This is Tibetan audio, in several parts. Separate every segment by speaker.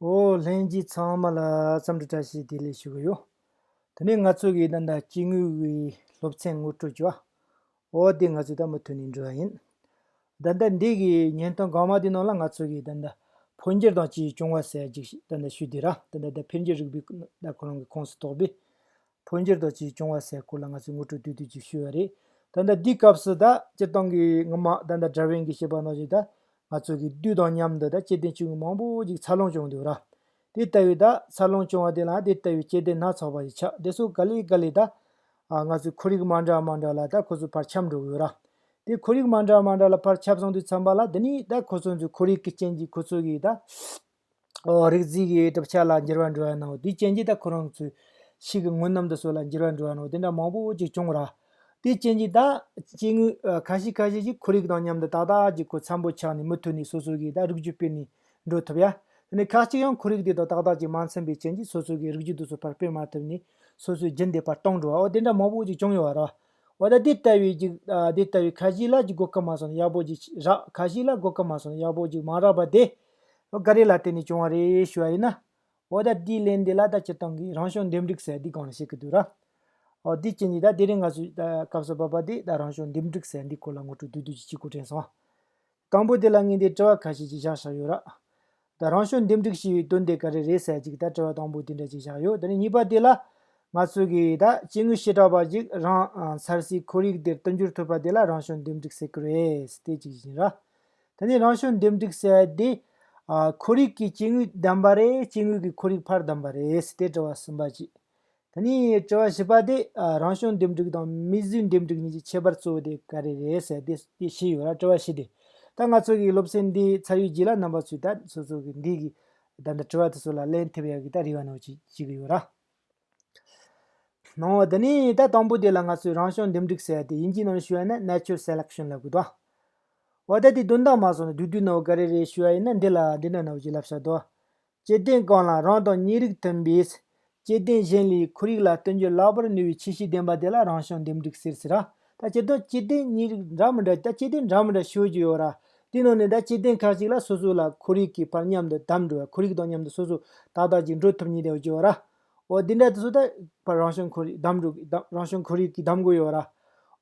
Speaker 1: ཨོ་ལྷན་རྒྱས་ཚང་མ་ལ་བསམ་འགྲུབ་བཀྲ་ཤིས་བདེ་ལེགས་ཞུ་གི་ཡོད། དེ་ནས་ང་ཚོ་གིས་ད་ལྟ་སྐྱེ་དངོས་ཀྱི་སློབ་ཚན་ངོ་སྤྲོད་བྱེད། ཨོ་དེ་ང་ཚོས་ད་མུ་མཐུད་ནས་འགྲོ་བ་ཡིན། ད་ལྟ་འདས་ཀྱི་བརྙན་ཐུང་གང་མང་དེའི་ནང་ལ་ང་ཚོ་གིས་ད་ལྟ་འཕོ་འགྱུར་དང་བཅས་བྱུང་བ་གསལ་བྱེད་ཞིག་ད་ལྟ་ཞུས་དེ་ར་ད་ལྟ་འཕེལ་འགྱུར་རིག་པའི་ཟླ་གོ་རང་གི་ཁོངས་སུ་གཏོགས་པའི་འཕོ་འགྱུར་དང་བཅས་བྱུང་བ་སའི་སྐོར་ལ་ང་ཚོས་ངོ་སྤྲོད་དུས་དུས་ཀྱིས་ཞུས་པ་རེད། ད་ལྟ་འདིའི་སྐབས་སུ་ད་སྤྱིར་བཏང་གི་སྔོན་མ་ད་ལྟ་དྲ་བའི་འགའི་ཤེས་པ་རྣམས་ཀྱིས་ད་ང་ཚོ་གི་དུས་དང་མཉམ་དུ་ད་སྐྱེ་ལྡན་ཆུང་ངུ་མང་པོ་ཅིག་འཚར་ལོངས་བྱུང་འདུག་ར། དེ་ལྟ་བུའི་ད་འཚར་ལོངས་བྱུང་བ་དེ་ལའང་དེ་ལྟ་བུའི་སྐྱེ་ལྡན་སྣ་ཚོགས་པ་ཞིག་ཆགས་དེ་སོགས་ག་ལེ་ག་ལེ་ད། ང་ཚོའི་ཁོར་ཡུག་མ་འདྲ་མ་འདྲ་ལ་ད་ཁོ་ཚོའི་བར་ཁྱབ་འགྲོ་གི་ཡོད་ར། དེ་ཁོར་ཡུག་མ་འདྲ་མ་འདྲ་ལ་བར་ཁྱབ་སོང་དུས་མཚམས་པ་ལ་འདི་ནི་ད་ཁོ་ཚོའི་ཚོའི་ཁོར་ཡུག་གི་རྐྱེན་གྱིས་ཁོ་ཚོ་གིས་ད། རིག་འཛིན་གྱི་གྲུབ་ཆ་ལ་འགྱུར་བ་འགྲོ་བར་སྣང་བ་དེའི་སྐྱེ་མཆེད་དག་ཁོ་རང་ཚོའི་ཤི་གི་ངུ་ནམ་དུ་སོགས་ལ་འགྱུར་བར་འགྲོ་བར་སྣང་བ་དེ་འདྲ་མང་པོ་ཅིག་བྱུང་བ་ར། དེའི་སྐྱེ་མཆེད་དག་སྐྱེ་དངོས་ཁ་ཤས་ཁ་ཤས་ཀྱིས་ཁོར་ཡུག་དང་མཉམ་དུ་ཏག་ཏག་ཅིག་གོ་འཚམ་པོ་ཆགས་ནས་མུ་མཐུད་ནས་སོ་སོ་གིས་དག་རིགས་རྒྱུད་སྤེལ་ནས་འགྲོ་ཐུབ་ཡ། དེ་ནས་ཁག་གཅིག་ཡང་ཁོར་ཡུག་དེ་དང་ཏག་ཏག་ཅིག་མ་འཚམ་པའི་རྐྱེན་གྱིས་སོ་སོ་གིས་རིགས་རྒྱུད་དུ་སོ་ཕར་སྤེལ་མ་ཐུབ་ནས་སོ་སོའི་རྒྱུན་དེ་ཕར་གཏོང་འགྲོ་བའོ་དེ་འདྲ་མང་པོ་ཅིག་བྱུང་ཡོད་བ་ར། འོ་ད་དེ་ལྟ་བུའི་ཅིག་དེ་ལྟ་བུའི་ཁ་ཤས་ལ་ཅིག་གོ་སྐབས་མ་སོང་ན་ཡག་པོ་ཅིག་རག་ཁ་ཤས་ལ་གོ་སྐབས་མ་སོང་ན་ཡག་པོ་ཅིག་མ་རག་པ་དེ་འགའ་རེ་ལ་དེ་ནས་བྱུང་བ་རེད་ཞུ་བ་ཡིན་ན། འོ་ད་དེའི་ལན་འདི་ལ་ད་སྤྱིར་བཏང་གི་རང་བྱུང་འདེམས་སྒྲིག་ཟེར་འདི་གང་ལ་བཤད་གི་འདུག་ར། ཨོ་དེའི་རྐྱེན་གྱིས་ད་དེ་རིང་ང་ཚོས་ད་སྐབས་སུ་བབ་པ་དེ་ད་རང་བྱུང་འདེམས་སྒྲིག་ཟེར་འདིའི་སྐོར་ལ་ངོ་སྤྲོད་དུས་དུས་ཀྱི་གཅིག་གོ་དྲན་སོང། དང་པོ་དེ་ལ་ངས་འདིར་དྲི་བ་ཁ་ཤས་ཅིག་བཞག་བཞག་ཡོད་ར། ད་རང་བྱུང་འདེམས་སྒྲིག་ཞེས་པའི་དོན་དེ་ག་རེ་རེད་ཟེར་ཅིག་ད་དྲི་བ་དང་པོ་དེ་འདྲ་ཅིག་བཞག་ཡོད་དེ་ནས་གཉིས་པ་དེ་ལ། ང་ཚོས་གི་ད་སྐྱེ་དངོས་བྱེ་བྲག་པ་ཅིག་རང་མཚར་སའི་ཁོར་ཡུག་དེར་བསྟུན་འགྱུར་ཐུབ་པ་དེ་ལ་རང་བྱུང་འདེམས་སྒྲིག་ཟེར་གི་རེད་དེ་གཅིག་ཡིན་ར། དེ་ནས་རང་བྱུང་འདེམས་སྒྲིག་བྱས་ཏེ། འཁོར་རིགས་ཀྱི་སྐྱེ་དངོས་བདམས་པ་རེད་སྐྱེ་དངོས་ཀྱི་འཁོར་རིགས་ཕར་བདམས་པ་རེད་ཟེར་ཏེ་དྲི་བ་གསུམ་པ་བགྱིས། དེ་ནས་དྲི་བ་བཞི་པ་དེ་རང་བྱུང་འདེམས་སྒྲིག་དང་མིས་བཟོས་འདེམས་སྒྲིག་གཉིས་ཀྱི་ཁྱད་པར་གཙོ་བོ་དེ་ག་རེ་རེད་ཟེར་ཏེ་དེ་བཞི་ཡོད་ར་དྲི་བ་བཞི་དེ་ད་ང་ཚོ་གི་སློབ་ཚན་འདི་ཚར་ཡོད་བགྱིས་ལ་རྣམ་པ་ཚོས་ད་སོ་སོ་གི་འདི་གི་ད་ལྟ་དྲི་བ་དེ་ཚོ་ལ་ལན་ཐེབས་ཡག་གི་ད་རེ་བ་ནོར་བགྱིས་ཀྱི་ཡོད་ར། གནང་བ་འདི་ནི་ད་དང་པོ་དེ་ལ་ང་ཚོས་རང་བྱུང་འདུམ་འགྲིག་ཟེར་ཏེ་དབྱིན་ཇིའི་ནང་ཞུ་བ་ནི Natural Selection ལབ་དགོས་ཏོ། འོ་ད་དེ་དོན་དག་མ་སོང་ན་དུས་དུས་ནོ་ག་རེ་རེ་ཞུ་བ་ཡིན་ན་འདི་ལ་འདི་ནོ་ནོ་གཅིག་ལབ་ཤག་དོ། སྐྱེ་ལྡན་གང་ལ་རང་དང་གཉིས་རིགས་མཐུན་པའི། སྐྱེ་ལྡན་གཞན་ལས་ཁོར་ཡུག་ལ་བསྟུན་རྒྱུ་ལག་པར་ནུས་པའི་ཁྱི་ཤི་ལྡན་པ་དེ་ལ་རང་བྱུང་འདུམ་འགྲིག་ཟེར་ཟེར་རོ། ད་སྤྱིར་བཏང་སྤྱི་བདེ་གཉིས་རིགས་འདྲ་མི་འདྲ་ད་སྤྱི་བདེ་འདྲ་མི་འདྲ་ཤོད་ཀྱི་ཡོད་ར། དེའི་ནང་ནས་ད་སྤྱི་བདེ་ཁག་ཅིག་ལ་སོ་སོ་ལ་ཁོར་ཡུག་གི་བར་མཉམ་དུ་དམ་འགྲོ་བའི་ཁོར་ཡུག་དང་མཉམ་དུ་སོ་སོ་ཏག་ཏག་ཅིག་འགྲོ་ཐུབ་ངེས་དེ་ཡོད་ཀྱི་ཡོད་ར། འོ་དེ་འདྲ་དུ་སོ་ད་བར་རང་བྱུང་ཁོར་ཡུག་དམ་འགྲོ་གི་རང་བྱུང་ཁོར་ཡུག་གི་དམ་དགོས་ཡོད་ར།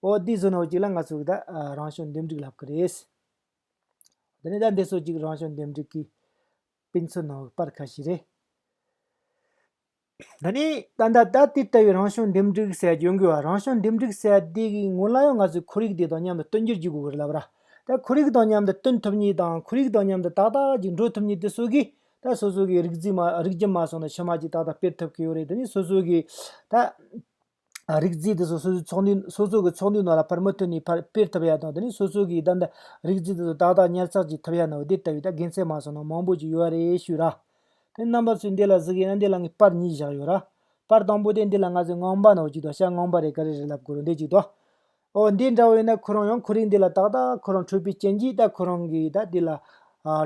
Speaker 1: འོ་དེའི་བཟོ་ནོར་ཅིག་ལ་ང་ཚོར་ད་རང་བྱུང་འདེམས་སྒྲིག་ལབ་ཀྱི་རེད། དེ་ནས་ད་འདི་སོ་ཅིག་རང་བྱུང་འདེམས་སྒྲིག་གི་དཔེ་མཚོན་ནོར་བར་ཁ་ཤས་རེད། འདི་ནི་ད་ལྟ་ད་ལྟའི་ལྟ་བའི་རང་བྱུང་འདེམས་སྒྲིག་སའི་གྱོན་གོས་བ་རང་བྱུང་འདེམས་སྒྲིག་སའི་སྡེ་གི་ངོས་ལ་ཡང་ང་ཚོས་ཁོར་ཡུག་དེ་དང་མཉམ་དུ་བསྟུན་རྒྱུར་གྱི་དགོས་གལ་ལབ་ར་དེ་ཁོར་ཡུག་དང་མཉམ་དུ་བསྟུན་ཐུབ་མྱིད་དང་ཁོར་ཡུག་དང་མཉམ་དུ་ཏག་ཏག་ཅིག་འགྲོ་ཐུབ་མྱིད་དེ་སོ་གིས་ད་སོ་སོ་གི་རིགས་རྒྱུ་མ་སོང་ན་ཕྱི་མ་ཅིག་ཏག་ཏག་སྤེལ་ཐུབ་ཀྱི་ཡོད་རེད་དེ་ནི་སོ་སོ་གིས་ད། རིགས་རྫས་དེ་ཚོ་སོ་སོའི་ཚོགས་འདུའི་སོ་སོ་གི་ཚོགས་འདུའི་ནང་ལ་ཕར་མུ་ཐུད་ནས་ཕར་སྤེལ་ཐུབ་ཡ་དང་དེ་ནས་སོ་སོ་གིས་བདག་འདྲ་རིགས་རྫས་དེ་ཚོ་ཏག་ཏག་ཉར་ཚགས་བྱེད་ཐུབ་ཡ་ནའོ་དེ་ལྟ་བུའི་ད་དགེ་མཚན་མ་སོགས་ནང་མང་པོ་ཅིག་ཡོད་རེད་ཞུ་ར། དེ་རྣམ་པ་ཚོས་འདི་ལ་གཟིགས་ཡ་ན་འདི་ལ་ངས་པར་གཉིས་བཞག་ཡོད་ར། པར་དང་པོ་དེ་འདི་ལ་ང་ཚོས་ངང་པ་ནའོ་ཅིག་དང་ཤ་ངང་པ་རེད་ག་རེ་རེད་ལབ་དགོས་རུ་འདེད་ཅིག་དང། ཨོ་འདི་འདྲ་བོ་ཡིན་ན་ཁོ་རང་ཡང་ཁོ་རིགས་འདི་ལ་ཏག་ཏག་ཁོ་རང་འཕྲོད་པའི་རྐྱེན་གྱིས་ད་ཁོ་རང་གིས་ད་འདི་ལ།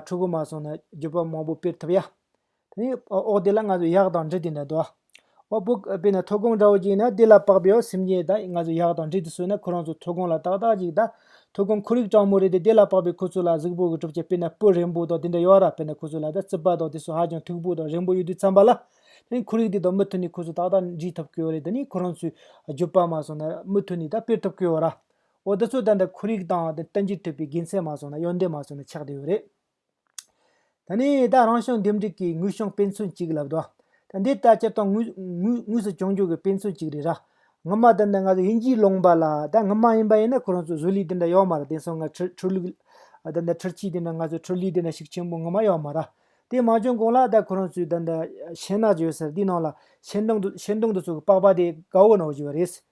Speaker 1: ཕྲུ་གུ་མ་སོང་ན་རྒྱུད་པ་མང་པོ་སྤེལ་ཐུབ་ཡ། དེ་ནས་འོག་དེ་ལ་ང་ཚོས་གཡག་དང་འབྲི་དེ་འདྲ་དོ། འོག་པོ་དཔེ་ན་ཐོད་རྒོང་འདྲ་བོ་ཅིག་ན་དེ་ལ་པགས་པའི་སེམས་ཅན་དག་ང་ཚོས་གཡག་དང་འབྲི་དེ་གསོས་ན་ཁོ་རང་ཚོ་ཐོད་རྒོང་ལ་ཏག་ཏག་ཅིག་དང། ཐོད་རྒོང་ཁོར་ཡུག་སྤྲང་མོ་རེད་དེ་དེ་ལ་པགས་པའི་ཁུ་ཚུར་ལ་གཟུགས་པོ་གི་གྲུབ་ཆ་དཔེ་ན་སྤུ་རན་པོ་དང་དེ་འདྲ་ཡོད་ར་དཔེ་ན་ཁུ་ཚུར་ལ་དང་རྩིབ་པ་དང་དེ་སོགས་ཧ་ཅང་མཐུག་པོ་དང་རན་པོ་ཡོད་དུས་འཚམ་པ་ལ། དེ་ནི་ཁོར་ཡུག་དེ་དང་མུ་མཐུད་ནས་ཁོ་ཚོ་ཏག་ཏག་འབྲི་ཐུབ་ཀྱི་ཡོད་རེད་དེ་ནི་ཁོ་རང་ཚོས་རྒྱུད་པ་མ་སོང་ན་མུ་མཐུད་ནས་དང་སྤེལ་ཐུབ་ཀྱི་ཡོད་ར། འོ་དེ་ཚོ་ད་ལྟ་ཁོར་ཡུག་དང་བསྟན་བཅོས་ཐུབ་པའི་དགེ་མཚན་མ་སོང་ན་ཡོན་ཏན་མ་སོང་ན་ཆགས་བསྡད་ཡོད་རེད། ད་ནི་ད་རང་བྱུང་འདེམས་སྒྲུག་གི་དངུལ་བྱུང་དཔེ་མཚོན་གཅིག་ལབ་དོ། ད་འདི་ལྟ་སྤྱིར་བཏང་དངུས་སུ་བྱུང་འཇུག་གི་དཔེ་མཚོན་གཅིག་རེད་ར། ངོ་མ་ད་ནི་ང་ཚོ་དབྱིན་ཇིའི་ལུང་པ་ལ་ད་ངོ་མ་ཡིན་པ་ཡིན་ན་ཁོ་རང་ཚོ་བཟོ་ལས་དེ་འདྲ་ཡོད་མ་ར་དེང་སང་ང་ཁྲི་ཁྲི་ལུག་ད་འདྲ་ཁྲི་ཆིག་དེ་འདྲ་ང་ཚོ་ཁྲི་ལུག་དེ་འདྲ་ཞིག་ཆེན་པོ་ངོ་མ་ཡོད་མ་ར། དེ་མ་བྱུང་གོང་ལ་ད་ཁོ་རང་ཚོས་ད་འདྲ་ཤེལ་ནག་ཅིག་ཡོད་ས་རེད་དེའི་ནང་ལ་ཤེལ་མདོངས་དུ་ཤེལ་མདོངས་དུ་ཚུགས་པའི་པགས་པ་དེ་དགའ་བོ་ནང་བཞུགས་པ་རེད།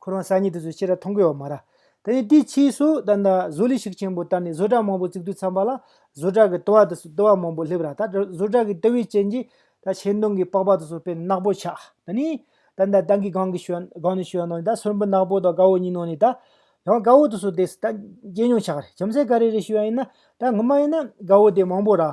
Speaker 1: ཁོ་རང་ས་ཉིད་དུ་སུ་ཕྱི་ར་མཐོང་གི་ཡོག་མ་ར། དེ་ནས་དེའི་ཕྱིའི་སུ་ད་ནི་བཟོ་ལས་ཤིག་ཆེན་པོ་དར་ནས་བཟོ་གྲྭ་མང་པོ་བཙུགས་དུས་ཚངས་པ་ལ་བཟོ་གྲྭ་གི་ལྟོ་བ་དུ་སུ་ལྟོ་བ་མང་པོ་སླེབས་ར་ད་བཟོ་གྲྭ་གི་ལྟོ་བའི་རྐྱེན་གྱིས་ད་ཆེ་མདོང་གི་པགས་པ་དུ་སུ་པན་ནག་པོ་ཆགས་དེ་ནས་ད་ནི་ཏང་གི་སྒང་གི་ཞོན་སྒང་ནས་ཞོན་ནང་ནས་ད་སོན་པི་ནག་པོ་དང་དགའ་བོ་གཉིས་ནང་ནས་ད་ཡང་དགའ་བོ་དུ་སུ་དེ་སུ་ད་རྐྱེན་ཉུང་ཆགས་རེད་ཁྱིམ་སའི་ག་རེ་རེ་ཞུ་ཡ་ཡིན་ན་ད་ངུ་མ་ཡིན་ན་དགའ་བོ་དེ་མང་པོ་ར།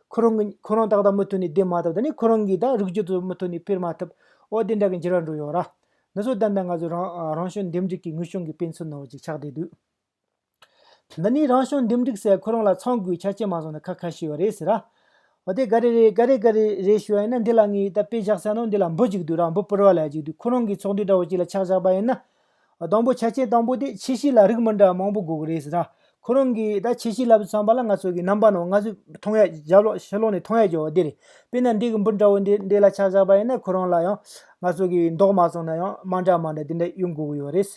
Speaker 1: ཁོ་རང་གིས་ཁོ་རང་ད་ལྟ་མུ་མཐུད་ནས་བསྡད་མ་ཐུབ་ད་ནི་ཁོ་རང་གིས་ད་རིགས་རྒྱུད་དུ་མུ་མཐུད་ནས་ཕེར་མ་ཐུབ་འོ་དེ་འདྲ་གི་འགྱུར་བ་འགྲོ་ཡོང་ར། འདི་ཚོ་ཏན་ཏན་ང་ཚོའི་རང་རང་བྱུང་འདེམས་སྒྲིག་གི་ངུ་ཤུང་གི་དཔེ་མཚོན་ནོར་བ་ཅིག་ཆགས་བསྡད་འདུག། འདི་ནི་རང་བྱུང་འདེམས་སྒྲིག་སའི་ཁོ་རང་ལ་ཚང་དགོས་ཆ་རྐྱེན་མ་བཟུང་ན་ཁ་ཁ་ཤི་བ་རེད་ཟེར་ར། འོ་དེ་ག་རེ་རེད་ག་རེ་ག་རེ་རེད་ཞུ་བ་ཡིན་ན་འདི་ལ་ངས་ད་དཔེ་བཞག་ས་ནང་འདི་ལ་འབུ་གཅིག་འདུག་ར་འབུ་སྤུར་བ་ལ་ཡ་གཅིག་འདུག་ཁོ་རང་གིས་ཚོགས་འདུས་འདྲ་བོ་གཅིག་ལ་ཕྱག་བཞག་པ་ཡིན་ན། དང་པོ་ཆ་རྐྱེན་དང་པོ་དེ་ཆེས་ཤེས་ལ་རིགས་མི་འདྲ་མང་པོ་དགོས་ཀྱི་རེད་ཟེར་ན། ཁོ་རང་གིས་ད་ཆེས་ཤེས་ལབ་ཟིན་བསམ་པ་ལ་ང་ཚོ་གི་རྣམ་པ་ནང་སྔ་གཟུགས་མཐོང་ཡས་བརྒྱ་ལོག་ཕྱི་ལོག་ནས་མཐོང་ཡས་བརྒྱ་བ་འདི་རེད། དཔེར་ན་འདི་གི་འབུ་འདྲ་བོ་འདི་འདི་ལ་ཆ་བཞག་པ་ཡིན་ན་ཁོ་རང་ལ་ཡང་ང་ཚོ་གི་མདོག་མ་སོང་ན་ཡང་མ་འདྲ་མ་འདྲ་དེ་འདྲ་ཡོད་དགོས་ཀྱི་ཡོད་རེད།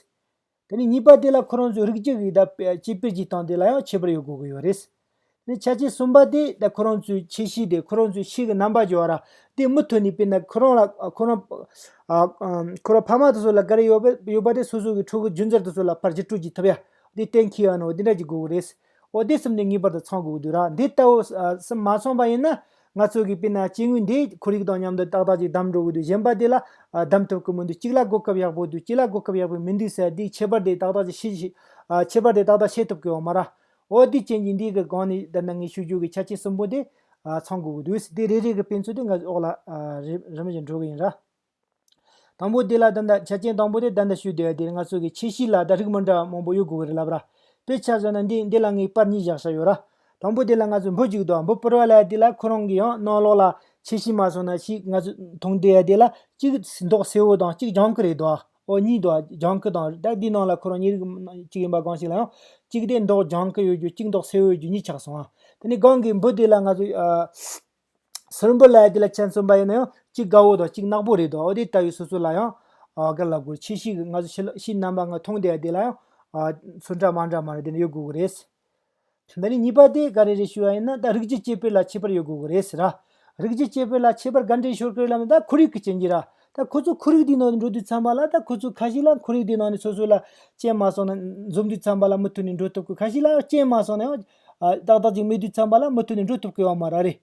Speaker 1: དེ་ནས་གཉིས་པ་དེ་ལ་ཁོ་རང་ཚོའི་རིགས་གཅིག་གི་ད་དཔེ་ཅི་དཔེར་གྱིས་སྟངས་དེ་ལ་ཡང་ཁྱད་པར་ཡོད་དགོས་ཀྱི་ཡོད་རེད། ནི་ཆ་ཆེ་གསུམ་པ་སྟེ་དེ་ཁོ་རང་ཚོའི་ཆེ་བཞི་སྟེ་ཁོ་རང་ཚོའི་ཕྱི་གི་རྣམ་པ་སྦྱོར་བ་ར་དེ་མུ་མཐུད་ནས་དཔེར་ན་ཁོ་རང་ལ་ཁོ་རང་ཁོ་རང་ཕ་མ་དེ་ཚོ་ལ་ག་རེ་ཡོད་པ་ཡོད་པ་དེ་སོ་སོ་གི་ཕྲུ་གུ་རྒྱུན་ཚར་དེ་ཚོ་ལ་ཕར་གྱི་སྤྲོད་ཀྱི་ཐུབ་ཡ་དེ་གཏན་འཁེལ་ཡོད་ན་འོ་དེ་འདྲ་གྱི་དགོས་གི་རེད། འོ་དེ་གསུམ་ནས་ངེས་པར་དུ་ཚང་དགོས་གི་འདུག་ར་འདི་ལྟ་བུ་གསུམ་མ་ཚང་པ་ཡིན་ན་ང་ཚོ་གི་དཔེར་ན་སྐྱེ་དངོས་འདི་ཁོར་ཡུག་དང་མཉམ་དུ་ཏག་ཏག་ཅིག་བསྡམས་འགྲོ་གི་འདུག་གཞན་པ་དེ་ལ་བསྡམས་ཐུབ་ཀི་མི་འདུག་གཅིག་ལ་གོ་སྐབས་ཡག་པོ་འདུག་གཅིག་ལ་གོ་སྐབས་ཡག་པོ་མི་འདུག་ཟེར་ཡ་དེའི་ཁྱད་པར་དེ་ཏག་ཏག་ཅིག་ཤེས་ཐུབ་ཀི་ཡོད་མ་ར། འོ་དེ་ཅན་གྱི་འདིའི་གི་སྒང་ནས་བདག་འདི་ངས་ཞུ་རྒྱུ་གི་ཆ་ཆེན་གསུམ་པོ་འདི་ཚང་དགོས་ཀྱི་འདུག་དེ་རེ་རེ་གི་དཔེ་མཚོན་དེ་འགའ་ཞིག་འོག་ལ་རིམ་བཞིན་འགྲོ་གི་ཡིན་ར། དང་པོ་དེ་ལ་བདག་འདི་ཆ་ཆེན་དང་པོ་དེ་བདག་འདི་ཞུ་བདེ་བ་དེ་ང་ཚོ་གི་ཆེ་གཤིས་ལ་བདག་རིགས་མི་འདྲ་བ་མང་པོ་ཡོད་དགོས་གི་རེད་ལབ་ར། དཔེ་ཆ་བཟོ་ན་འདི་འདི་ལ་ངས་པར་གཉིས་བཞག་ས་ཡོད་ར། དང་པོ་དེ་ལ་ང་ཚོས་འབུ་གཅིག་འདུག་འབུ་པོར་བ་ལ་དེ་ལ་ཁོ་རང་གི་ཡང་གནང་ལོག་ལ་ཆེ་གཤིས་མ་བཟོ་ན་ཞིག་ང་ཚོས་མཐོང་བདེ་བ་དེ་ལ་གཅིག་མདོག་སེར་བོ་དང་གཅིག་ལྗང་གུ་རེད་འདུག་འོག་གཉིས་མདོག་ལྗང་ཁུ་དང་རེད། དེའི་ནང་ལ་ཁོ་རང་ཉིད་རིགས་གཅིག་ཡིན་པ་སྒང་ཞིག་ལ་ཡང། གཅིག་དེ་མདོག་ལྗང་ཁུ་ཡོད་རྒྱུ་གཅིག་མདོག་སེར་བོ་ཡོད་རྒྱུ་གཉིས་ཆགས་སོང། དེ་ནས་སྒང་གི་འབུ་དེ་ལ་ང་ཚོས། སུར་འབུ་ལ་དེ་ལ་ཆན་གསུམ་པ་ཡོད་ན་ཡང་གཅིག་དགའ་བོ་དང་གཅིག་ནག་པོ་རེད་འདུག་འོ་དེ་ལྟ་བུའི་སོ་སོ་ལ་ཡང། དགའ་ལབ་དགོས་ཕྱིས་ཤིག་ང་ཚོ་ཕྱི་ཕྱི་རྣམ་པ་ང་མཐོང་དེ་དེ་ལ་ཡང། སུ་འདྲ་མ་འདྲ་མ་རེད་དེ་ཡོད་དགོས་ཀྱི་རེད། འདི་ནི་གཉིས་པ་དེ་ག་རེ་རེད་ཞུས་པ་ཡིན་ན་ད་རིགས་རྒྱུད་གཅེས་སྤེལ་ལ་ཁྱད་པར་ཡོད་དགོས་ཀྱི་རེད་ཟེར། རིགས་རྒྱུད་གཅེས་སྤེལ་ལ་ཁྱད་པར་ག་འདྲའི་ཤོར་གི་རེད་ལབ་ན་ད་ཁོར་ཡུག་གི་རྐྱེན་གྱིས་ར། ད་ཁོ་ཚོ་ཁོར་ཡུག་དེའི་ནང་དུ་འགྲོ་དུས་འཚམས་པ་ལ་ད་ཁོ་ཚོ་ཁ་ཤས་ལ་ཁོར་ཡུག་དེའི་ནང་ནས་སོ་སོ་ལ་རྐྱེན་མ་སོང་ན་འཛོམས་དུས་འཚམས་པ་ལ་མུ་མཐུད་ནས་འགྲོ་ཐུབ་ཀི་ཁ་ཤས་ལ་རྐྱེན་མ་སོང་ན་ཡང་ཏག་ཏག་ཅིག་མེད་དུས་འཚམས་པ་ལ་མུ་མཐུད་ནས་འགྲོ་ཐུབ་ཀི་ཡོང་མ་ར་རེད།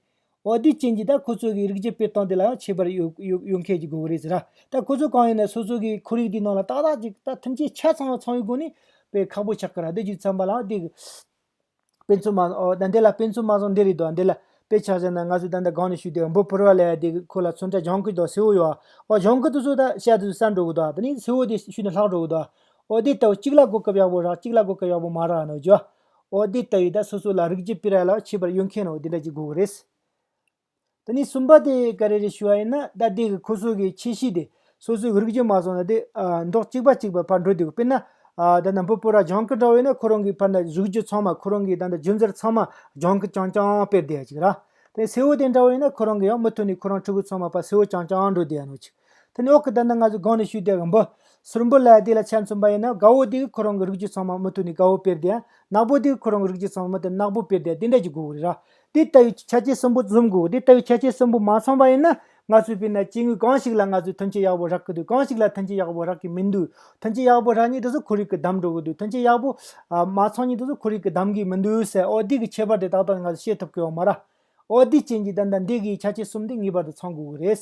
Speaker 1: འོ་དེའི་རྐྱེན་གྱིས་ད་ཁོ་ཚོ་གིས་རིགས་གཅིག་པའི་སྟངས་དེ་ལའང་ཁྱད་པར་ཡོད་མཁན་གྱི་དགོས་མཁོ་རེད་ཟེར། ད་ཁོ་ཚོ་གང་ཡིན་ན་སོ་སོ་གི་འཁོར་ཡུག་དེའི་ནང་ལ་ཏག་ཏག་ཅིག་ད་ཐམས་ཅད་ཆ་ཚང་བ་ཚང་བའི་སྒོ་ནས་དཔེ་ཁག་པོ་ཆགས་ཀྱི་ར་དེ་བརྒྱུད་བརྩམས་པ་ལའང་དེ། དཔེ་མཚོན་མ་ཟད་འདི་ལ་དཔེ་མཚོན་མ་ཟད་འདི་རེད་དོ་འདི་ལ་དཔེ་ཆགས་ཟེར་ན་ང་ཚོས་ད་ལྟ་སྒང་ནས་ཞུས་ཏེ་འབུ་ཕུར་བ་ལས་དེ་ཁོ་ལ་མཚོན་ཆ་གཞང་ཁུལ་དང་སེའུ་ཡོད་ཨོ་གཞང་ཁུལ་དུ་སུ་ད་ཤ་དེ་ཚོས་ཟ་འགྲོ་གི་དོ་ད་ནི་སེའུ་དེ་ཤུལ་ནས་ལྷག་འགྲོ་གི་དོ། འོ་དེ་ལྟ་བུ་གཅིག་ལ་གོ་སྐབས་ཡག་པོ་རག་གཅིག་ལ་གོ་སྐབས་ཡག་པོ་མ་རག་ནོ་རྒྱུ། འོ་དེ་ལྟ་ཡོད་ད་སོ་སོ་ལ་རིགས་ཀྱི་པིར་ཨ་ལགས་ཁྱད་པར་ཡོད་མཁན་རོ་དེ་འདྲ་གྱི་དགོས་ཀྱི་རེད། དེ་ནས་གསུམ་པ་དེ་ག་རེ་རེད་ཞུ་བ་ཡིན་ན་ད་དེ་གི་ཁོ་སོ་གི་ཁྱད་གཤིས་དེ་སོ་སོའི་རིགས་ཀྱི་མ་སོང་ན་དེ་མདོག་གཅིག་པ་གཅིག་པ་ཕར་འགྲོ་དུས་དཔེར་ན། ད་ནམ་ཕོ་པོ་ར་ལྗང་ཀི་འདྲ་བོ་ཡོད་ན་ཁོ་རང་གི་ཕར་ན་གཟུགས་རྒྱུ་ཚང་མ་ཁོ་རང་གི་ད་ལྟ་རྒྱུ་འཛར་ཚང་མ་ལྗང་ཀི་རྐྱང་རྐྱང་དཔེར་བསྡད་ཡ་གཅིག་ར། དེ་སེའུ་དེ་འདྲ་བོ་ཡོད་ན་ཁོ་རང་གི་ཡང་མི་ཐུག་ནས་ཁོ་རང་ཕྲུ་གུ་ཚང་མ་པ་སེའུ་རྐྱང་རྐྱང་འགྲོ་བསྡད་ཡ་ནོ་གཅིག། དེ་ནས་འོག་གི་དོན་དག་ང་ཚོས་དགོངས་ནས་ཞུས་ཏེ་འབུ། ཟུར་འབུ་ལ་དེ་ལ་ཆ་མཚོན་པ་ཡིན་ན་དགའ་བོ་དེ་གི་ཁོ་རང་གི་རིགས་ཀྱི་ཚོང་མ་མུ་ཐུག་ནས་དགའ་བོ་དཔེར་བསྡད། ནག་པོ་དེ་གི་ཁོ་རང་གི་རིགས་ཀྱི་ཚོང་མ་མུ་ཐུག་ནས་ནག་པོ་དཔེར་བསྡད་དེ་འདྲ་གྱི་དགོས་གི་རེད། དེ་ལྟ་བུའི་ཆ་རྐྱེན་གསུམ་པོ་འཛོམས་དགོས་གི་དེ་ལྟ་བུའི་ཆ་རྐྱེན་གསུམ་པོ་མ་འཛོམས་པ་ཡིན་ན་ང་ཚོས་དཔེར་ན་སྐྱེ་དངོས་གང་ཞིག་ལ་ང་ཚོས་ཐོན་སྐྱེད་ཡག་པོ་རག་གི་འདུག་གང་ཞིག་ལ་ཐོན་སྐྱེད་ཡག་པོ་རག་གི་མི་འདུག་ཐོན་སྐྱེད་ཡག་པོ་རག་ཉིད་དུ་ཚོ་ཁོར་ཡུག་གི་གདམ་འགྲོ་གི་འདུག་ཐོན་སྐྱེད་ཡག་པོ་མ་འཚོང་ཉིད་དུ་ཚོ་ཁོར་ཡུག་གི་གདམ་གི་མི་འདུག་ཟེར་ཨོ་དེ་གི་ཁྱད་པར་དེ་དག་དག་ནས་ང་ཚོས་ཤེས་ཐུབ་ཀི་ཡོད་མ་རེད། ཨོ་དེའི་རྐྱེན་གྱིས་དེ་འདྲ་འདི་གི་ཆ་རྐྱེན་གསུམ་དེ་ངེས་པར་དུ་ཚང་དགོས་གི་རེད།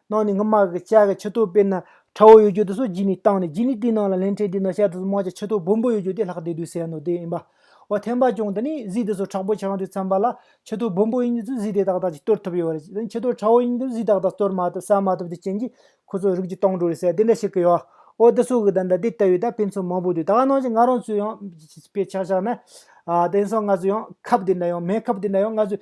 Speaker 1: ནང་ནས་སྔ་མ་གི་ལྕགས་ཀྱི་ཕྱི་ཐོག་དཔེར་ན་ཁྲ་བོ་ཡོད་རྒྱུ་དེ་སོགས་བགྱིས་ནས་བཏང་ནས་བགྱིས་ནས་དེའི་ནང་ལ་ལན་ཕྲད་དེའི་ནང་ཤར་དུ་སྨག་ལྕགས་ཕྱི་ཐོག་སྦོམ་པོ་ཡོད་རྒྱུ་དེ་ལྷག་བསྡད་དུས་ཟེར་ཡང་ནོར་དེ་ཡིན་པ། འོ་ཐེངས་པ་ཅུང་དེ་ནི་གཟིག་དེ་སོགས་དྲག་པོ་བྱེད་རང་དུས་མཚམས་པ་ལ་ཕྱི་ཐོག་སྦོམ་པོ་ཡིན་རྒྱུ་དེ་གཟིག་དེ་དག་དག་ཅིག་གཏོར་ཐུབ་ཡོད་རེད་ཕྱི་ཐོག་ཁྲ་བོ་ཡིན་རྒྱུ་གཟིག་དག་དག་གཏོར་མ་ཐུབ་བསལ་མ་ཐུབ་ཀྱི་རྐྱེན་གྱིས་ཁོ་ཚོ་རིགས་ཀྱི་སྟོང་འགྲོ་རེད་ཟེར་དེ་འདྲ་ཞིག་གི་ཡོད། འོ་དེ་སོགས་ཀྱི་དང་འདྲ་དེ་ལྟ་བུའི་དང་དཔེ་མཚོན་མང་པོ་འདུག་ད་ག་ནང་བཞིན་ང་རང་ཚོས་ཡང་དཔེ་ཆ་བཞག་ན། དེང་སང་ང་ཚོས་ཡང་ཁབ་དེ་འདྲ་ཡང་མེད་ཁབ་དེ་འདྲ་ཡང་ང་ཚོས་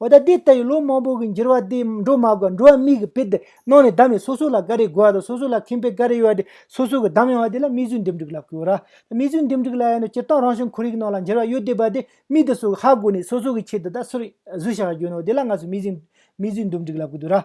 Speaker 1: འོ་ད་དེ་ལྟ་བུའི་ལོ་མང་པོ་གི་འགྱུར་བ་དེ་འགྲོ་མ་དགོས་འགྲོ་བ་མིག་གི་དཔེ་དེ་ནང་ནས་བསྡམས་ནས་སོ་སོ་ལ་འགའ་རེ་དགོས་པ་དང་སོ་སོ་ལ་ཁེངས་པའི་འགའ་རེ་ཡོད་པ་དེ་སོ་སོ་གི་བསྡམས་ཡོང་བ་དེ་ལ་མིག་ཆུའི་འདེམས་སྒྲུག་ལ་བསྐུར། མིག་ཆུའི་འདེམས་སྒྲུག་ལ་ཡང་ན་སྤྱིར་བཏང་རང་བྱུང་ཁོར་ཡུག་ནང་ལ་འགྱུར་བ་ཡོད་བསྡད་པ་དེ་མིག་དེ་སོགས་ཀྱི་ཧ་གོ་ནས་སོ་སོ་གི་ཆེད་དུ་ད་གཟོད་བཞག་རྒྱུ་ཡིན་ནོ་དེ་ལ་ང་ཚོས་མིག་ཆུའི་འདུམ་སྒྲིག་ལ་བསྐུར།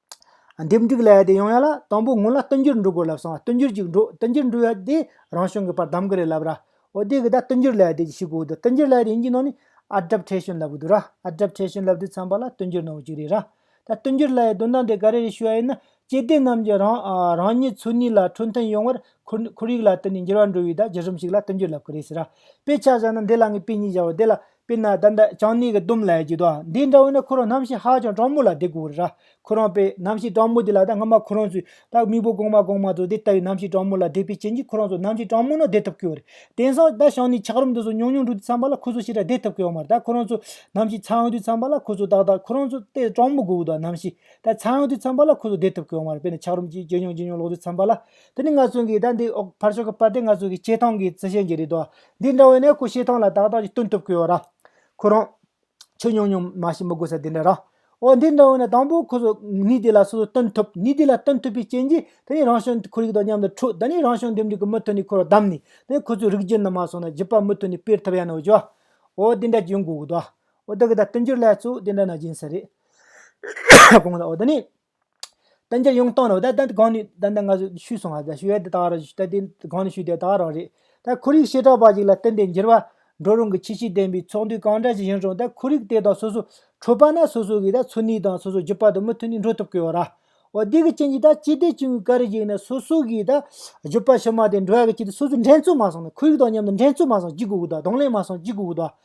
Speaker 1: སྡེབ་འགྲིག་ལ་ཡ་དེ་ཡོང་ཡ་ལ་དང་པོ་སྔོན་ལ་བསྟུན་འགྱུར་འགྲོ་དགོས་ལབ་སོང་བསྟུན་འགྱུར་ཅིག་འགྲོ་བསྟུན་འགྱུར་འགྲོ་ཡ་དེ་རང་བྱུང་གི་བར་གདམ་གི་རེད་ལབ་ར་འོ་དེ་གི་ད་བསྟུན་འགྱུར་ལ་ཡ་དེ་ཅིག་ཤི་གོ་འོད་བསྟུན་འགྱུར་ལ་ཡ་དེ་ཡིན་གྱི་ནང་ནས་ཨར་སྒྲབ་འཕྲལ་བྱོན་ལབ་གི་འདུག་ར་ཨར་སྒྲབ་འཕྲལ་བྱོན་ལབ་དུས་ཚངས་པ་ལ་བསྟུན་འགྱུར་གནང་བ་ཅིག་རེད་ར་ད་བསྟུན་འགྱུར་ལ་ཡའི་དོན་དམ་དེ་ག་རེ་རེད་ཞུ་ཡ་ཡིན་ན་སྐྱེ་ལྡན་རྣམས་ཀྱི་རང་རང་ཉིད་ཚུལ་ནུས་ལ་འཕྲོད་མཐུན་ཡོང་བར་ཁོར་ཡུག་ལ་བསྟུན་ནས་འགྱུར་བ་འགྲོ་བའི་ད་གཞི་རིམ་ཞིག་ལ་བསྟུན་འགྱུར་ལབ་གི་རེད་ཟེར་ར་དཔེ་ཆ་བཞག་ན་འདི་ལ་ངས་དཔེ་གཉིས་བཞག་བ་དེ་ལ་དཔེར་ན་ད་ལྟ་ཅང་ནེའི་གི་ཏུམ་ལའི་ཇི་དོ་འདི་འདྲ་བོ་ནི་ཁོ་རང་ནམ་ཞིག་ཧ་ཅང་གྲང་མོ་ལ་བསྡད་དགོས་རེད་ར་ཁོ་རང་པས་ནམ་ཞིག་གྲང་མོ་དེ་ལ་ད་སྔ་མ་ཁོ་རང་ཚོས་ད་མིག་པོ་གོང་མ་གོང་མ་ཚོ་དེ་ལྟ་བུའི་ནམ་ཞིག་གྲང་མོ་ལ་བསྡད་པའི་རྐྱེན་གྱིས་ཁོ་རང་ཚོ་ནམ་ཞིག་གྲང་མོ་ན་བསྡད་ཐུབ་ཀྱི་རེད་དེང་སང་ད་ཞང་ནེའི་འཁྱག་རོམ་དུ་སོང་ཉུང་ཉུང་འགྲོ་དུས་ཚངས་པ་ལ་ཁོ་ཚོ་ཞིག་ད་བསྡད་ཐུབ་ཀྱི་ཡོད་མ་རེད་ད་ཁོ་རང་ཚོ་ནམ་ཞིག་ཚངས་དུས་ཚངས་པ་ལ་ཁོ་ཚོ་ཏག་ཏག་ཁོ་རང་ཚོ་ལྟས་གྲང་མོ་དགོས་དུ་ནམ་ཞིག་ད་ཚངས་དུས་ཚངས་པ་ལ་ཁོ་ཚོ་བསྡད་ཐུབ་ཀྱི་ཡོད་མ་རེད་དཔེར་ན་འཁྱག་རོམ་གྱིས་ཇེ་ཉུང་ཇེ་ཉུང་ལོག་དུས་ཚངས་པ་ལ་དེ་ནི་ང་ཚོ་གིས་ད་འདི་འོག་ཕར་ཕྱོགས་ཀྱི་པར་དེ་ང་ཚོ་གིས་སྤྱད་སྟངས་ཀྱི་རྩི་ཤེས་ཀྱི་རེད་དོ་འདི་འདྲ་བས་ནི་སྐུ་བྱེ་ཐང་ལ་དག་དག་ཅིག་སྟོན་ཐུབ་ཀི་ཡོད་ར། ཁོ་རང། ཆོས་ཉུང་ཉུང་མ་ཞིག་མི་དགོས་ས་དེ་འདྲ་ར། འོ་འདི་འདྲ་བས་ནི་དང་པོ་ཁོ་ཚོ་ནུས་དེ་ལ་སོ་སོ་སྟོན་ཐུབ་ནུས་དེ་ལ་སྟོན་ཐུབ་པའི་རྐྱེན་གྱིས་དེ་ནི་རང་བྱུང་ཁོར་ཡུག་དང་མཉམ་དུ་འཁྲུག་ད་ནི་རང་བྱུང་འདེམས་སྒྲིག་གི་མུ་མཐུད་ནས་ཁོ་རང་བདམས་ནས་དེ་ནི་ཁོ་ཚོའི་རིགས་རྒྱུད་ནང་མ་སོང་ན་བརྒྱུད་པ་མུ་མཐུད་ནས་སྤེལ་ཐུབ་ཡ་ན་འོ་ཅོ། འོ་འདི་འདྲ་ཅིག་ཡོང་དགོས་ཀི་འདུག་ཨ། འོ་ད་གི་ད་སྟོན་རྒྱུར་ལྷད་གཙོ་འོ་འདི་འདྲ་ན་སྦྱིན་ས་རེད། གོང་ས་འོ་ད་ནི། བསྟན་འགྱུར་ཡང་བཏང་ནས་དེ་གང་ནས་དེ་འདི་འགའ་ཞིག་ཤུས་སོང་ཞུས་ཡས་དེ་དག་རང་དེ་གང་ནས་ཤུས་དེ་དག་རང་རེད། ད་ཁོར་ཡུག་བྱེ་བྲག་པ་ཞིག་ལ་བསྟན་པའི་འགྱུར་བ་འགྲོ་རུང་གི་ཁྱད་ཆོས་ལྡན་པའི་ཚོགས་འདུ་གང་འདྲ་ཞིག་ཡིན་རུང་ད་ཁོར་ཡུག་དེ་དང་སོ་སོ་འཕྲོད་པ་ན་སོ་སོ་གི་ད་འཚོ་གནས་དང་སོ་སོ་བརྒྱུད་པ་དང་མི་མཐུན་ནས་འགྲོ་ཐུབ་ཀི་ཡོད་ར། འོ་དེ་གི་རྐྱེན་གྱིས་ད་སྤྱི་བདེ་ཅུང་གི་ཀ་རི་ཞིག་ནས་སོ་སོ་གི་ད་བརྒྱུད་པ་ཕྱི་མ་དེ་འགྲོ་བ་གི་ཆེད་དུ་སོ་སོ་འགྲན་རྩོད་མ་སོང་ནས་ཁོར་ཡུག་དང་མཉམ་དུ་འགྲན་རྩོད་མ་སོང་ཅི་དགོས་ཀི་ད་གདོང་ལེན་མ་སོང་ཅི་དགོས་ཀི་ད།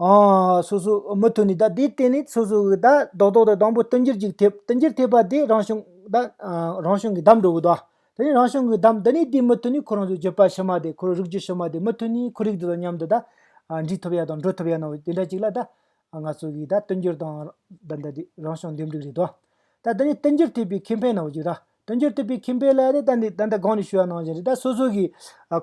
Speaker 1: ཧཧཧ། སོ་སོ། མུ་མཐུད་ནས་ད་དེའི་སྟེང་ནས་སོ་སོ་གིས་ད་རྡོག་རྡོག་ཏུ་དང་པོ་བསྟུན་འགྱུར་ཅིག་ཐེབས་བསྟུན་འགྱུར་ཐེབས་པ་དེ་རང་བྱུང་ད་རང་བྱུང་གི་གདམས་འགྲོ་དགོས་ཏོ། དེ་ནས་རང་བྱུང་གི་གདམས་འདི་ནས་དེའི་མུ་མཐུད་ནས་ཁོ་རང་ཚོའི་བརྗོད་པ་ཕྱི་མ་དེ་ཁོ་རང་རིག་རྒྱུ་ཕྱི་མ་དེ་མུ་མཐུད་ནས་ཁོར་ཡུག་དེ་དང་མཉམ་དུ་ད་འདྲིས་ཐུབ་ཡ་དང་འགྲོ་ཐུབ་ཡ་ནང་བའི་དེ་འདྲ་ཅིག་ལ་ད་ང་ཚོ་གིས་ད་བསྟུན་འགྱུར་དང་ད་འདི་རང་བྱུང་འདེམས་སྒྲུག་རེད་དོ། ད་དེ་ནས་བསྟུན་འགྱུར་ཐེབས་པའི་ཁེ་ཕན་ནང་བར་རྒྱུ་ད་དོན་འཁྱོལ་ཐུབ་པའི་ཁེ་ཕན་ལ་ནི་ཏན་ཏན་ཏན་ཏན་སྒང་ནས་ཞུ་བ་གནང་བཞིན་རེད་ད་སོ་སོ་གིས་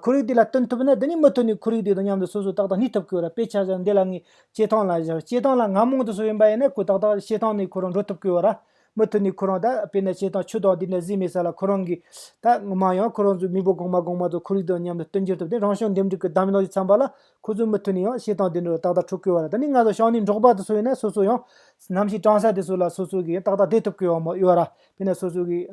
Speaker 1: ཁོར་ཡུག་དེ་ལ་བསྟུན་ཐུབ་ན་དེ་ནས་མུ་མཐུད་ནས་ཁོར་ཡུག་དེ་དང་མཉམ་དུ་སོ་སོ་ཏག་ཏག་གནས་ཐུབ་དགོས་ར་དཔེ་ཆ་བཞག་འདི་ལ་ངས་སྐྱེ་ཐང་ལ་བཞག་སྐྱེ་ཐང་ལ་ང་མང་དུ་སོ་ཡིན་པ་ཡིན་ན་ཁོ་ཏག་ཏག་སྐྱེ་ཐང་ནས་ཁོ་རང་འགྲོ་ཐུབ་དགོས་བ་ར་མུ་མཐུད་ནས་ཁོ་རང་ད་དཔེ་ན་སྐྱེ་ཐང་ཆུ་དང་དེ་འདྲ་བཟི་མེད་ས་ལ་ཁོ་རང་གིས་ད་ངོ་མ་ཡང་ཁོ་རང་ཚོའི་མི་བུ་གོང་མ་གོང་མ་ཚོ་ཁོར་ཡུག་དང་མཉམ་དུ་བསྟུན་འགྱུར་ཐུབ་དེ་རང་བྱུང་འདེམས་སྒྲུག་གི་གདམ་ག་ཞིག་འཚམ་པ་ལ་ཁོ་ཚོས་མུ་མཐུད་ནས་ཡང་སྐྱེ་ཐང་དེ་འདྲ་རུ་ཏག་ཏག་འཁྲུག་དགོས་བ་ར་ད་ནི་ང་ཚོ་ཞང་ནས་འབྲོག་པ་དེ་སོ་ཡིན་ན་སོ་སོ་ཡང་ནམ་ཞིག་གྲང་ས་དེ་སོ་ལ་སོ་སོ་གིས་ཡང་ཏག་ཏག་བསྡད་ཐུབ་དགོས་བ་མོ་ཡོད་ར་དེ་ནས་སོ་སོ་གི་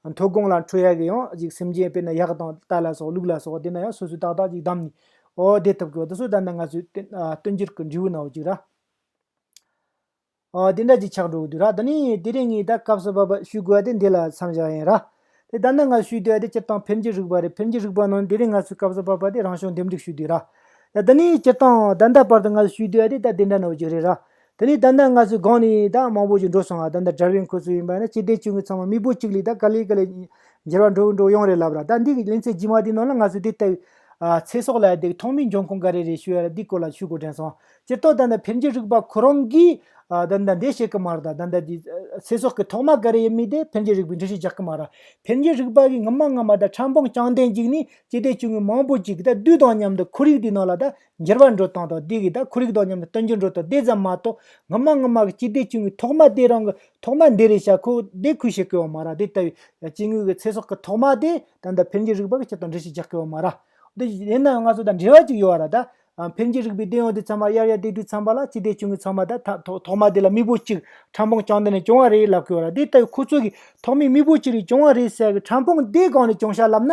Speaker 1: མཐོ་སྒང་ལ་འཕྲོ་ཡག་གི་ཡང་ཅིག་སེམས་ཅན་དཔེར་ན་གཡག་དང་རྟ་ལ་སོགས་ལུག་ལ་སོགས་དེ་ན་ཡང་སོ་སོའི་ཏག་ཏག་ཅིག་བདམས་ནས་འོ་བསྡད་ཐུབ་དགོས་བ་དེ་སོགས་ལྟར་ན་ང་ཚོའི་སྟོན་རྒྱུར་གི་འབྲས་བུ་ནའོ་ཅིག་ར། འོ་དེ་འདྲ་ཅིག་ཆགས་འགྲོ་གི་འདུག་ར་ད་ནི་དེ་རིང་ངས་ད་སྐབས་སུ་བབ་པ་ཞུས་དགོས་བ་དེ་འདི་ལ་མཚམས་བཞག་ཡིན་ར། དེ་ལྟར་ན་ང་ཞུས་འདོད་བ་དེ་སྤྱིར་བཏང་ཕེབས་འགྱུར་རིག་པ་རེད་ཕེབས་འགྱུར་རིག་པ་ནང་དེ་རིང་ང་ཚོས་སྐབས་སུ་བབ་པ་དེ་རང་བྱུང་འདེམས་སྒྲིག་ཞུས་དུས་ར། ད་ནི་སྤྱིར་བཏང་ད་ལྟ་བར་དུ་ང་ཞུས་འདོད་བ་དེ་ད་དེ་འདྲ་ནའོ་ཅིག་རེད་ར། དེ་ནས་ད་ལྟ་ང་ཚོའི་སྒང་ནས་ད་མང་པོ་ཞིག་འགྲོ་སོང་ང་ད་ལྟ་དགྲ་བོའི་མཁོ་ཚུལ་ཡིན་པ་ནི་སྤྱི་བདེ་ཅུང་གི་ཚང་མ་མི་བུ་གཅིག་ལས་ད་ག་ལེ་ག་ལེ་འགྱེལ་བ་འགྲོ་འགྲོ་ཡོང་རེད་ལབ་ར་ད་འདི་གི་གླིང་ཚའི་རྗེས་མ་དེ་ནང་ལ་ང་ཚོས་དེ་ལྟ་བུའི་ཚེ་སྲོག་ལ་དེ་ཐོག་མའི་འབྱུང་ཁུངས་ག་རེ་རེད་ཞུས་ཡ་འདི་སྐོར་ལ་ཞུས་གོ་དྲན་སོང་སྤྱིར་བཏོག་ད་ལྟ་ཕེབས་འཇུག་རིག་པ་ཁོ་རང་གིས་ད་ལྟ་འདི་བཤད་གི་མ་རེད་ད་ད་ལྟ་དེ་ཚེ་སྲོག་གི་ཐོག་མ་ག་རེ་ཡིན་མིན་དེ་ཕེབས་འཇུག་རིག་པའི་འགྲེལ་བཤད་རྒྱག་གི་མ་རེད་ཕེབས་འཇུག་རིག་པ་གི་ངོ་མ་ངོ་མ་ད་ཁྲ་འབངས་རྐྱང་ལྡན་ཅིག་ནི་སྤྱི་བདེ་ཅུང་གི་མང་པོ་ཅིག་ད་དུས་དང་མཉམ་དུ་ཁོར་ཡུག་དེའི་ནང་ལ་ད་འགྱུར་བ་འགྲོ་སྟངས་དང་དེ་གའི་དང་ཁོར་ཡུག་དང་མཉམ་དུ་སྟོན་རྒྱུར་འགྲོ་སྟངས་དེ་ཙམ་མ་གཏོགས་ངོ་མ་ངོ་མ་གི་སྤྱི་བདེ་ཅུང་གི་ཐོག་མ་དེ་རང་གི་ཐོག་མ་འདི་རེད་བྱ་ཁོ་བདེ་ཁུལ་བྱེད་དགོས་པ་མ་ར་དེ་ལྟ་བུའི་སྐྱེ་དངོས་ཀྱི་ཚེ་སྲོག་གི་ཐོག་མ་དེ་ད་ལྟ་འཕེལ་རྒྱས་རིག་པ་གི་ཆེད་དུ་འདྲི་གཞི་རྒྱག་དགོས་པ་མ་ར། དེ་ཡིན་ན་ཡང་ང་ཚོ་དང་འབྲེལ་བ་ཅིག་ཡོད་ར་ད། འཕེལ་རྒྱས་རིག་པའི་རྟེན་ཡོད་དེ་ཚང་མ་དབྱར་ཡར་དུས་དྲུག་ཚང་མ་ལ་སྤྱི་བདེ་ཅུང་གི་ཚང་མ་ད་ཐོག་མ་དེ་ལ་དམིགས་བུ་གཅིག་ཕྲ་འཕོང་བཅང་འདི་ནས་བྱུང་བ་རེད་ལབ་དགོས་པ་ར་དེ་ལྟ་བུའི་ཁོ་ཚོ་གི་ཐོག་མའི་དམིགས་བུ་གཅིག་རེ་བྱུང་བ་རེད་ཟེར་བའི་ཕྲ་འཕོང་དེ་གང་ནས་བྱུང་ཤག་ལབ་ན